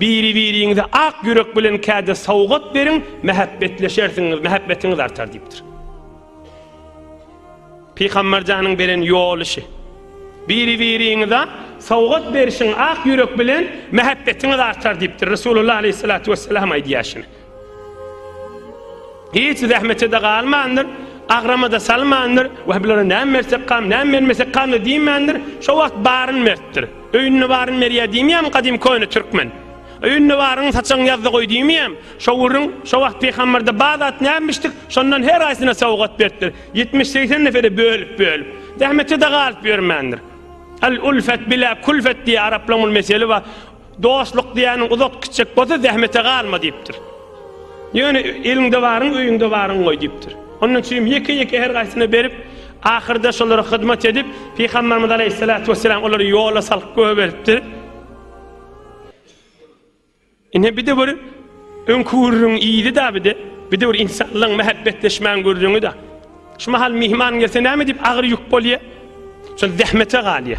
Biri-biriňize ak ýürek bilen kädi sowgat beriň, mähäbbetleşersiňiz, mähebbetiňiz artar diýipdir. Pygamberjanyň beren ýoly şu. Biri-biriňize sowgat berişiň ak ýürek bilen, mähebbetiňiz artar diýipdir. Resulullah aleyhissalatu vesselam aýdýar şuny. Hiç zähmete-de galmandyr, agrama-da salmandyr. Wah, bulara näme bersek kam, näme bermesek kam-da diýmändir. Şo wagt baryny beripdir. Öýünde baryny berýär diýmeýärmi gadym köne türkmen? Öýünde baryňy saçagyň ýazda goý diýmeýärmi? Şo gürrüň, şo wagt pygambarda bar zat nämişdik, şondan her haýsyna sowgat beripdir. Ýetmiş-segsen neferä bölüp-bölüp. Zähmete-de galyp ýörmändir. Al-ulfet bilä-külfet diýýär araplaryň bir meseli bar. Dostluk diýýäniň uzak gitjek bolsa zähmete galma diýipdir. Ýöne eliňde baryň, öýüňde baryň goý diýipdir. Ondan üçin ýeke-ýeke her gaýsyna berip, ahyrda şolara hyzmat edip, Pygamberimiz aleýhissalatu wesselam olary ýola salyp göberipdir. Ine bir-de bir öňki gürrüň ýyly da bir-de, bir-de bir insanlaryň mähäbbetleşmäň gürrüňi da. Şu mahal myhman gelse näme diýip agyr ýük bolýa? Şol zähmete galýa.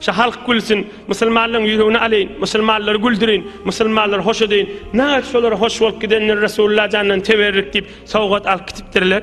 Şa halk gülsün, musulmanlaryň ýüregini alyň, musulmanlary güldürin, musulmanlary hoş edeýin. Näet şolar hoş bolup gidenler Resulullah jandan teberrik diýip sowgat alyp gitipdirler.